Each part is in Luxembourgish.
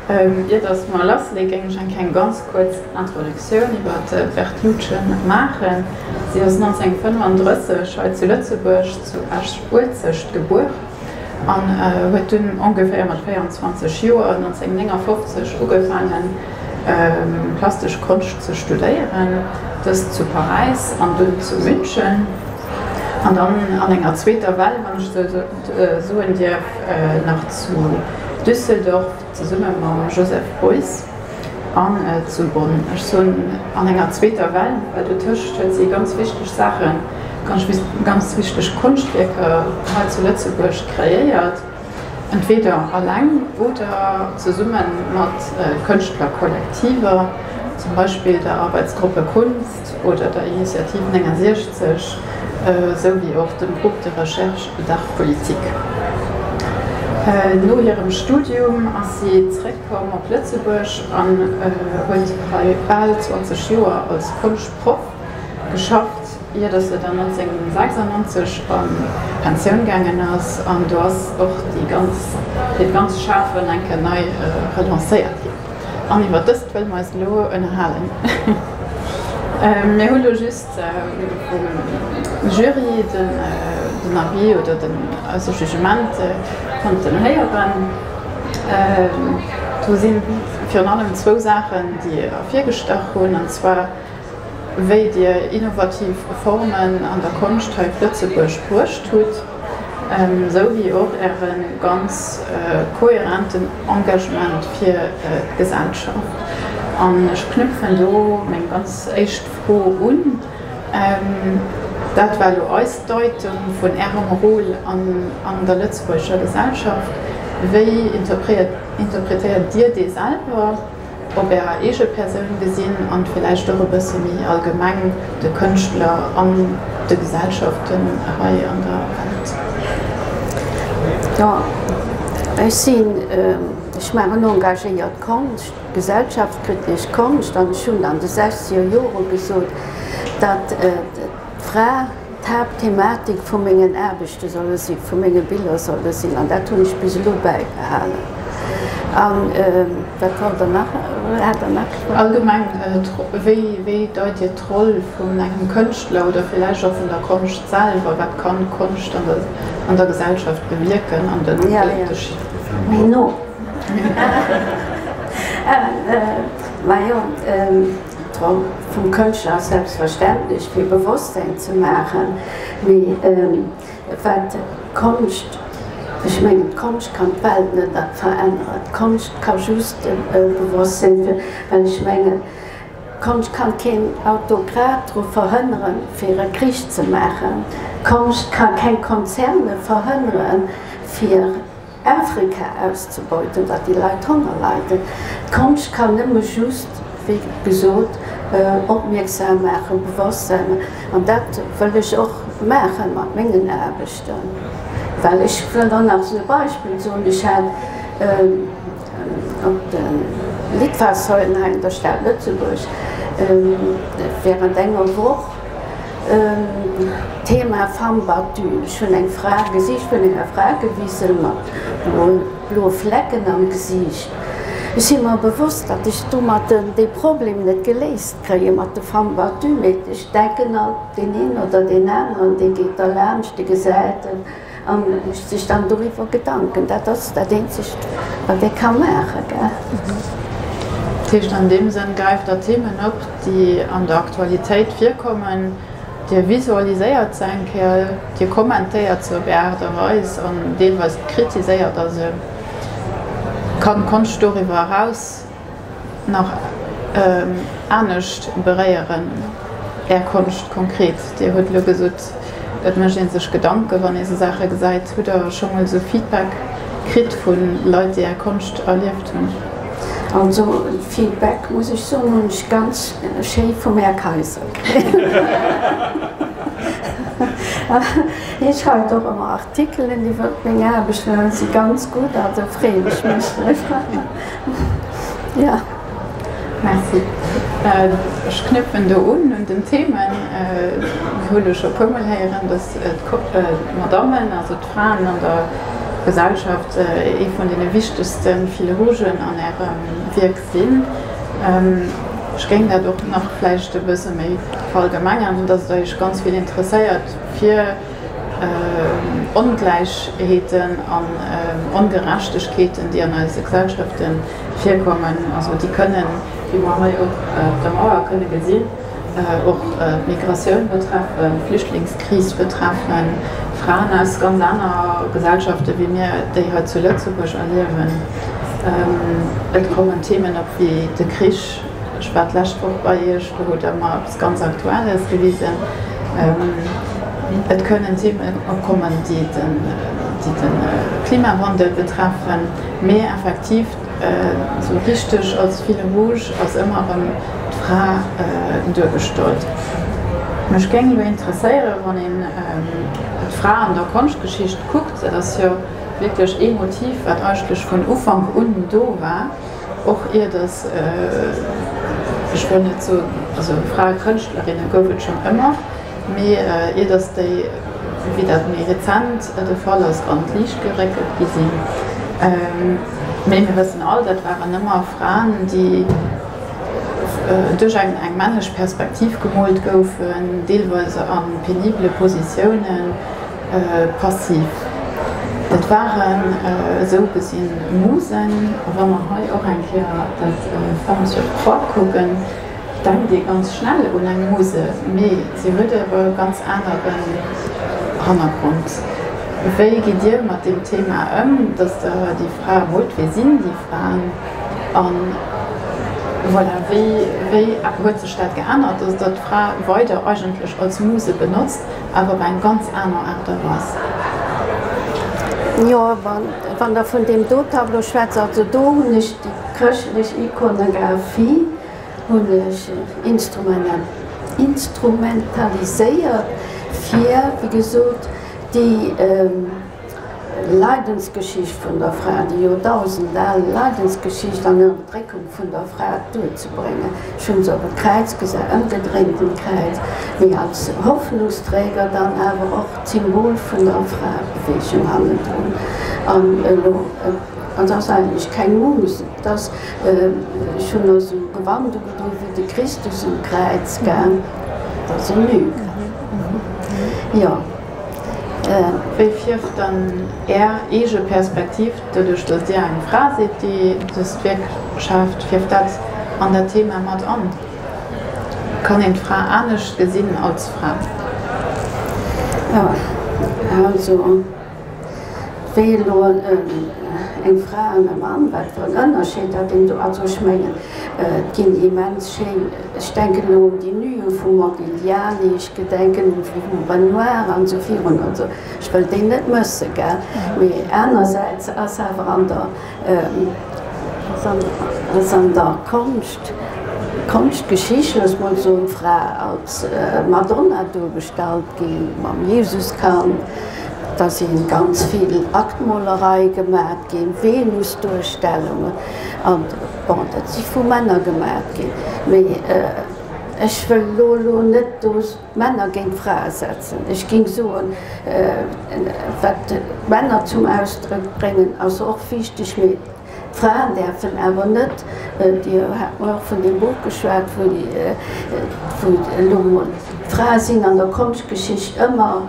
Ier dass mer lassleeë géing ech eng kleng ganz kuerz Introduktioun iwwert d'Wertluce maachen. Si ass 1935 hei zu Lëtzebuerg zu Esch-Uelzecht gebuer an huet dunn ongeféier mat 24 Joer, 1959, ugefaangen plastesch Konscht ze studéieren, dëst zu Paräis an dunn zu München an dann an enger zweeter Well, wann ech esou. soen dierf, nach zu Düsseldorf zesumme mam Joseph Beuys an zu Bonn, ech soen an enger zweeter Well, well dotëscht huet si ganz wichteg Saachen, ganz wichteg Konschtwierker hei zu Lëtzebuerg kreéiert, entweeder aleng oder zesumme mat Kënschtlerkollektiver, zum Beispill der Arbeitsgruppe Kunz. oder der Initiative 69, esou wéi och dem Groupe de recherche d'art politique. No hirem Studium ass si zréckkomm op Lëtzebuerg an huet hei bal 20 Joer als Konschtproff geschafft, ier datt se dann 1996 a Pensioun gaangen ass. An do ass och déi ganz, hiert ganzt Schafen enke nei relancéiert ginn. An iwwer dëst wëlle mer eis elo ënnerhalen. Mir hu lo just vum Jury den Avis oder den Jugement konnten héieren. Do si virun allem zwou Saachen, déi ervirgestach hunn, an zwar wéi Dir innovativ Formen an der Konscht hei op Lëtzebuerg bruecht hutt, esou wéi och Äre ganz kohärenten Engagement fir d'Gesellschaft. An ech knüpfen do meng ganz éischt Fro un, dat war elo eis Deitung vun Ärem Rôle an der Lëtzebuurger Gesellschaft. Wéi interpretéiert Dir dee selwer? op ärer eege Persoun gesinn an villäicht och e bësse méi allgemeng de Kënschtler an de Gesellschaften hei an der Welt. Jo, ech sinn, ech maachen engagéiert Konscht, gesellschaftskritesch Konscht an ech hunn an de sechzeger Jore gesot, datt d'Fra, d'Haaptthematik vu mengen Aarbechte solle sinn, vu menge Biller solle sinn an dat hunn ech bis elo bäibehalen. An wat wollt Der nach, hat Der nach gefrot? Allgemeng, wéi deit Dir d'Roll vun engem Kënschtler oder villäicht och vun der Konscht selwer? Wat kann d'Konscht an der Gesellschaft bewierken? An den Unterschied? Tom, vum Kënschtler selbstverständlech fir Bewosstsein ze maachen, mee wat d'Konscht, ech mengen d'Konscht kann d'Welt net veränneren, d'Konscht ka just Bewosstsein fir, well ech mengen d'Konscht ka keen Autokrat dru verhënnere fir e Krich ze maachen, d'Konscht ka keng Konzerne verhënnere fir. Afrika auszebeuten, datt déi Leit Honger leiden. D'Konscht kann nëmme just, wéi gesot, opmierksam maachen, Bewosstsein. An dat wëll ech och maachen mat mengen Aarbechten. Well ech wëll dann nach esou e Beispill soen, Ech hat op de Litfaßsäulen hei an der Stad Lëtzebuerg während enger Woch, Thema, Femme battue, Ech hunn eng Fra, Gesiicht vun enger Fra gewisen, mat bloe Flecken am Gesiicht. Ech si mer bewosst, datt ech domatten dee Problem net geléist kréie mat de Femme battue, mee ech denken alt, deen een oder deen aneren, dee geet derlaanscht, dee gesäit et, A mécht sech dann doriwwer Gedanken. Dat ass dat Eenzegt, wat ee ka maachen. Dat heescht, an deem Sënn gräift Der Themen op, déi an der Aktualitéit virkommen. Dir visualiséiert se eng Kéier, Dir kommentéiert se op Är Aart a Weis an deelweis kritiséiert Der se. Kann d'Konscht doriwwer eraus nach anescht beréieren, Är Konscht konkret. Dir hutt elo gesot, et mécht ee sech Gedanken, wann ee sou Saache gesäit. Hutt Der scho mol esou Feedback kritt vu Leit, déi Är Konscht erlieft hunn? Also Feedback, muss ech soen, hunn ech ganz schéi vum Här Kayser kritt. Hie schreift och ëmmer Artikelen iwwer meng Aarbecht an si ganz gutt, also freeë mech méchtlech. Ja, merci. Ech knüpfen do un, un den Themen. Mir hu lo scho e puermol héieren, dass d'Madammen, also d'Fraen an der Gesellschaft, ee vun deene wichtegste Fil rougen an Ärem Wierk sinn. Ech géing dat och nach vläicht e bësse méi verallgemengern, dass et Iech ganz vill interesséiert, fir, Ongläichheeten an Ongerechtegkeeten, déi an eise Gesellschafte virkommen, also déi kënnen, wéi mer hei och op der Mauer kënne gesinn, och d'Migratioun betreffen, d'Flüchtlingskris betreffen, Fraen aus ganz aner Gesellschafte wéi mir déi hei zu Lëtzebuerg erliewen. Et kommen Themen op wéi de Krich, ech war d'lescht Woch bei Iech, do hutt Der mer, Ganz aktuell ass gewisen, Et kënnen Themen opkommen, déi de Klimawandel betreffen, mee effektiv esou richteg als fil rouge ass ëmmer erëm d'Fra duergestallt. Mech géing elo interesséieren, wann een d'Fra an der Konschtgeschicht kuckt, dat ass jo wierklech ee Motiv, wat eigentlech vun Ufank un do war, Och iert ech ech wëll net soen, also Frae Kënschtlerinne gouf et schonn ëmmer, mee iert ech déi, wéi dat méi rezent de Fall ass, an d'Liicht geréckelt gi sinn. Mee mir wëssen all, dat waren ëmmer Fraen, déi duerch eng eng männlech Perspektiv gemoolt goufen, deelweis a penibele Positiounen, Passiv, dat waren esou gesinn Musen. A wa mer hei och eng Kéier dat Femmes sur trois kucken, denkt ee ganz schnell un eng Muse, mee si huet e ganz anere Hannergrond. Wéi gitt Dir mat deem Thema ëm, dass Der déi Fra hutt? Wie sinn déi Fraen? A voilà, wéi huet sech dat geännert, dass Der d'Fra weider eigentlech als Muse benotzt? awer op eng ganz aner Aart a Weis. Jo, wann Der vun deem do Tableau schwätzt, also do hunn ech déi chrëschtlech Ikonographie hunn ech instrumentaliséiert, fir, wéi gesot, déi, Leidensgeschicht vun der Fra, déi Joerdausend al Leidensgeschicht an Ënnerdréckung vun der Fra duerzebréngen. Ech hunn se op e Kräiz gesat, ëmgedréint um Kräiz, mee als Hoffnungsträger, dann awer och d'Symbol vun der Fraebeweegung hannendrun. An elo, et ass eigentlech keng Muse, et ass, ech hunn esou e Gewand ugedoen wéi de Christus um Kräiz, gell, et ass e Lügner, jo. Wéi fierft dann Är eege Perspektiv, doduerch datt Dir eng Fra sidd, déi dëst Wierk schaaft, fierft dat an dat Thema mat an? Kann een d'Fra anescht gesinn als Fra? Jeanny Krecké, Jo, also wéi elo eng Fra an e Mann, wat fir en Ënnerscheed dat een do, also ech mengen et ginn immens schéin, Ech denken elo un déi Nuë vum Modigliani, ech gedenken un déi vum Renoir an esou virun an esou. Ech wëll déi net mëssen, gell. Mee anersäits ass awer an der, ass an der Konscht, Konschtgeschicht, looss emol soen, d'Fra als Madonna duergestallt gi mam Jesuskand. Da si ganz vill Aktmolerei gemat ginn, Venusduerstellungen an. Bon, dat si vu Männer gemaacht ginn, mee ech wëll elo elo net do Männer géint Frae setzen. Ech géing soen, wat d'Männer zum Ausdrëck bréngen, ass och wichteg, mee d'Fraen däerfen awer net, Dir hat mol och vun deem Buch geschwat, wou elo mol d'Frae sinn an der Konschtgeschicht ëmmer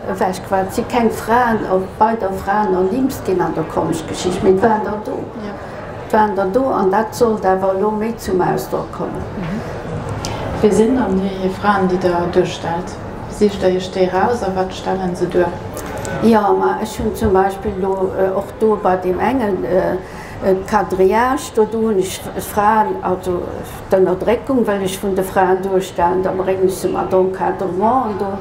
Ewechgewaart si keng Fraen, a weider Fraen ernimmt ginn an der Konschtgeschicht, mee et waren der do. Et waren der do, an dat sollt awer elo méi zum Ausdrock kommen. Wie sinn dann déi Fraen, déi Der duerstellt? Sicht Der Iech déi eraus a wat stellen se duer? Jo, ma ech hunn zum Beispill elo och do bei deem engen Quadrillage do, do hunn ech d'Fraen, also d'Ënnerdréckung wëll ech vun de Fraen duerstellen, da bréngen ech se mat Encadrementen do.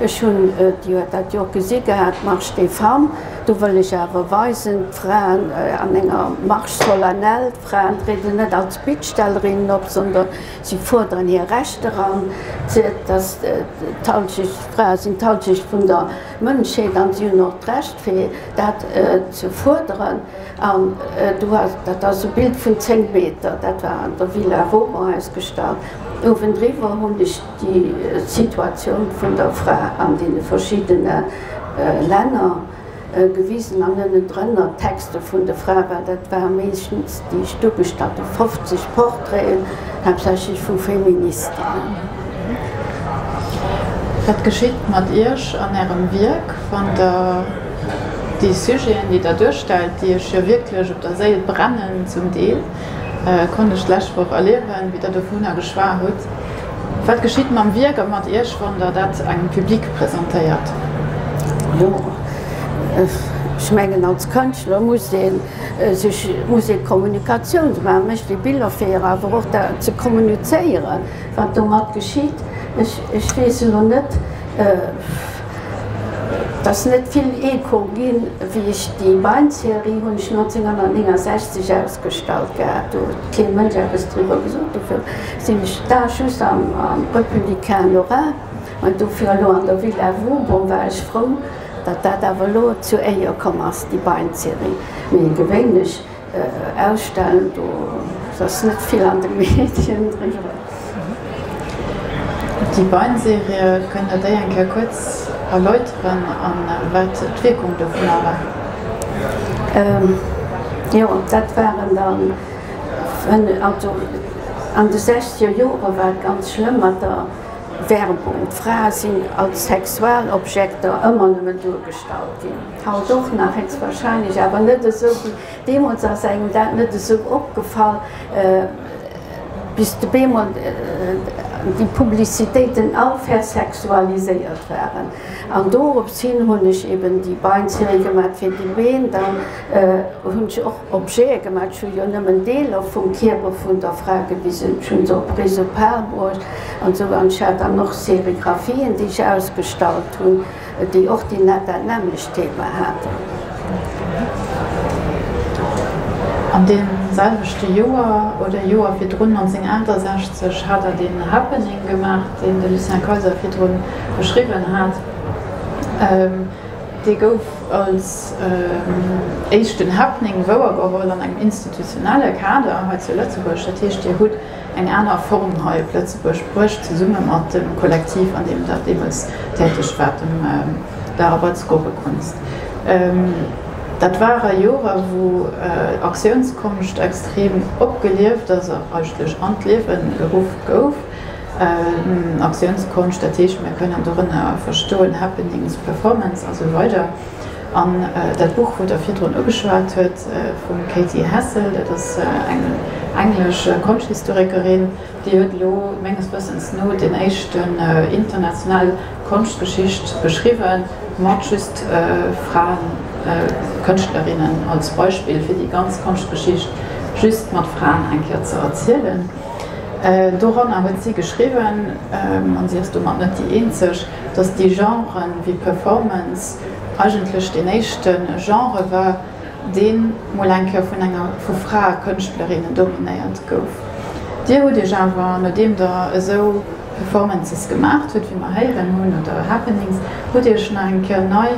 Ech hunn et jo dat Joer gesi gehat, Marche des femmes, do wëll ech awer weisen, d'Fraen an enger Marche solennelle, d'Fraen trieden net als Bittstellerinnen op, sondern si fuerderen hir Rechter an, dass d'Halschecht, d'Frae sinn d'Halschecht vun der Mënschheet an si hunn och d'Recht fir dat ze fuerderen. An do ass, dat ass e Bild vun 10 Meter, dat war an der Villa Womer ausgestallt, owendriwwer hunn ech, Déi Situatioun vun der Fra an deene verschiddene Länner gewisen an ënnendrënner d'Texte vun de Frae, well dat ware meeschtens déi ech do gestallt hunn, 50 Portraiten, haaptsächlech vu Feministinnen. Wat geschitt mat Iech an Ärem Wierk, wann Der déi Sujeten, déi Der duerstellt, déi Iech jo wierklech op der Séil brennen, zum Deel, konnt ech d'lescht Woch erliewen, wéi Der dovunner geschwat hutt, Wat geschitt mam Wierk a mat Iech, wann Der dat engem Public presentéiert? Jo, ech mengen als Kënschtler muss ee sech, muss ee Kommunikatioun ze maachen, mech déi Biller fir awer och dat ze kommunizéiere wat domat geschitt. Ech, ech weess elo net, et ass net vill Echo ginn, wéi ech déi Weinserie hunn ech 1969 ausgestallt gehat, do huet kee Mënsch eppes driwwer gesot dofir. Sinn ech da just am Republicain Lorrain an dofir elo an der Ville à vous? Bon, war ech frou, datt dat awer elo zu éier komm ass, déi Bein-Serie. Mee gewéinlech ausstellen, do ass net vill an de Medien driwwer. Déi Bein-Serie, kënnt Der déi eng Kéier kuerz erläuteren a wat d'Wierkung dovunner war? Jo, dat waren dann, also. An de sechzeger Jore war et ganz schlëmm mat der Werbung. Frae sinn als Sexualobjekter ëmmer nëmmen duergestallt ginn. Haut och nach, héchstwahrscheinlech awer net esou wéi deemools. Ass engem dat net esou opgefall, bis bemol déi Publicitéiten all versexualiséiert waren? An dorops hin hunn ech eben déi Bein-Serie gemaach, fir déi Been dann. Hun ech och Objete gemat, ech hun jo nemmen Deeler vum Kierper vun der Fra gewisen, ech hun se op Risopal bruecht an sou, an ech hat dann och Serigraphien déi ech ausgestallt hun, déi och déi dat nämmlecht Thema haten. An deem selwechte Joer, oder Joer virdrun, 1968, hat Der deen Happening gemacht, deen de Lucien Kayser virdrun beschriwwen hat. Dee gouf als éischten Happening wouergeholl an engem institutionelle Kader hei zu Lëtzebuerg. Dat heescht, Dir hutt eng aner Form hei op Lëtzebuerg bruecht, zesumme mat dem Kollektiv, an deem Der deemools täteg waart, dem Lara Batz Gorekunst. Dat ware Joren, wou Aktiounskonscht extrem opgelieft ass a eigentlech an d'Liewen geruff gouf. Aktiounskonscht, dat heescht mir kënnen dorënner verstoen Happenings, Performance a sou weider. An dat Buch, wou Der virdrun ugeschwat hutt, vum Katy Hassel, dat ass eng englesch Konschthistorikerin, déi huet elo menges Wëssens no den éischten international Konschtgeschicht geschriwwen, mat just Fraen, Kënschtlerinnen als Beispill, fir déi ganz Konschtgeschicht just mat Fraen eng Kéier ze erzielen. Doranner huet si geschriwwen, an si ass domat net déi eenzeg, datt déi Genre wéi Performance eigentlech deen éischte Genre war, dee mol eng Kéier vun enger, vu Fraekënschtlerinnen dominéiert gouf. Dir hutt Iech awer, nodeem Der esou Performances gemaacht hutt, wéi mer héieren hunn, oder Happenings, hutt Dir Iech nach eng Kéier nei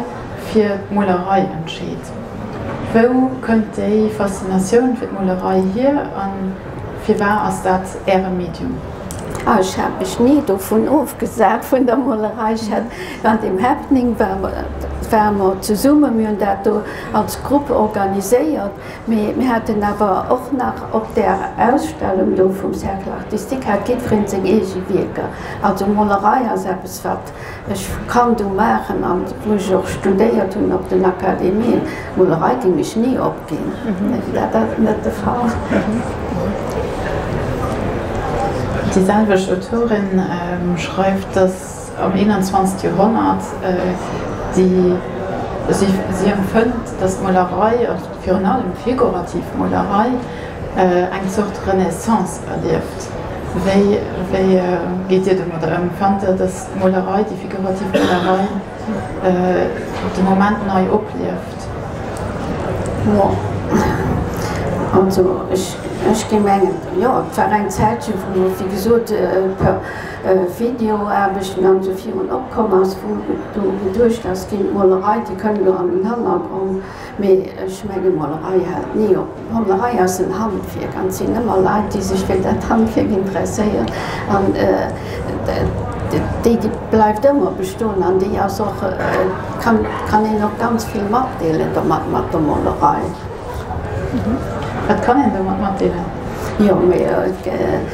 fir d'Molerei entscheet. Wou kënnt déi Faszinatioun fir d'Molerei hier? Firwar ass dat Äre Medium? Ah, ech hat mech ni dovun ofgesat, vun der Molerei. Ech hat mat dem Happening war mer, ware mer zesummen, mir hunn dat do als Grupp organiséiert, mee mir haten awer och nach op där Ausstellung do vum Cercle Artistique hat jiddwereen seng eege Wierker. Also Molerei ass eppes, wat Ech kann do maachen, an wou ech och studéiert hunn op den Akademien, Molerei déi mech ni opginn, dat ass net de Fall. Déi selwecht Autorin schreift, datt am 21. Joerhonnert si empfënnt, datt d'Molerei, virun allem figurativ Molerei eng Zort Renaissance erlieft. Wéi geet Dir domadder ëm? Fannt Der, datt d'Molerei, déi figurativ Molerei de Moment nei oplieft? Bon, also ech géing mengen, jo, et war eng Zäitche wou, wéi gesot, per Videoaarbechten an esou virun opkomm ass, wou do geduecht ass ginn, d'Molerei, déi kënn do an den Hannergrond. Mee ech menge Molerei hält ni op. Molerei ass en Handwierk an et sinn ëmmer Leit, déi sech fir dat Handwierk interesséieren an déi bleift ëmmer bestoen an déi ass och, kann een och ganz vill matdeelen domat, mat der Molerei. Wat kann een domat matdeelen? Jo, mee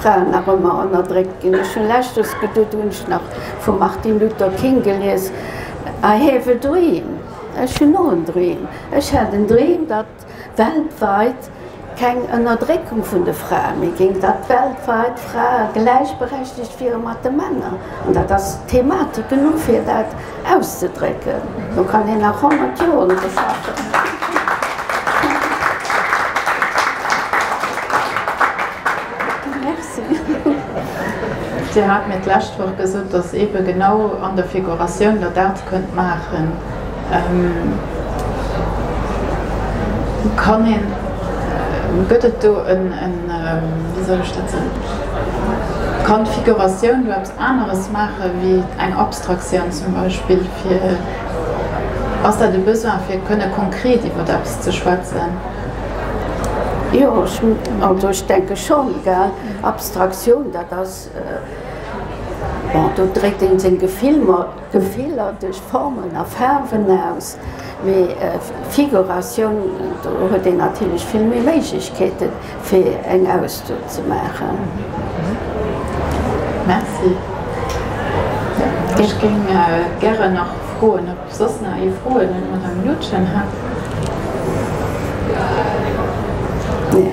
Fraen nach ëmmer ënnerdréckt ginn. Ech hunn leschtes gedutt, hunn ech nach vum Martin Luther King gelies, I have a dream, Ech hunn och en Dream, ech hat en Dream, datt weltweit keng Ënnerdréckung vun de Frae méi géing, datt weltweit d'Frae gläichberechtigt wiere mat de Männer. An dat ass d'Thematik genuch fir dat auszedrécken, do kann hien nach 100 Joer un der Saach schaffen. Dir hat mir d'lescht Woch gesot, datt eebe genau an der Figuratioun Der dat kënnt maachen. Kann een, gëtt et do en, wéi soll ech dat soen, kann d'Figuratioun do eppes, Aneres maachen, wéi eng Abstraktioun zum Beispill? Ass dat e Besoin, fir kënne konkret iwwer eppes ze schwätzen? Jo, also ech denke schonn. Abstraktioun, dat ass, bon, do dréckt ee seng Gefiller. Gefiller duerch Formen a Faarwen aus, mee Figuratioun, do huet een natierlech vill méi Méiglechkeeten, fir eng Ausdo ze maachen. Merci. Ech géing gären nach froen, ob soss nach ee Froen un d'Madame Loutgen hätt. Nee.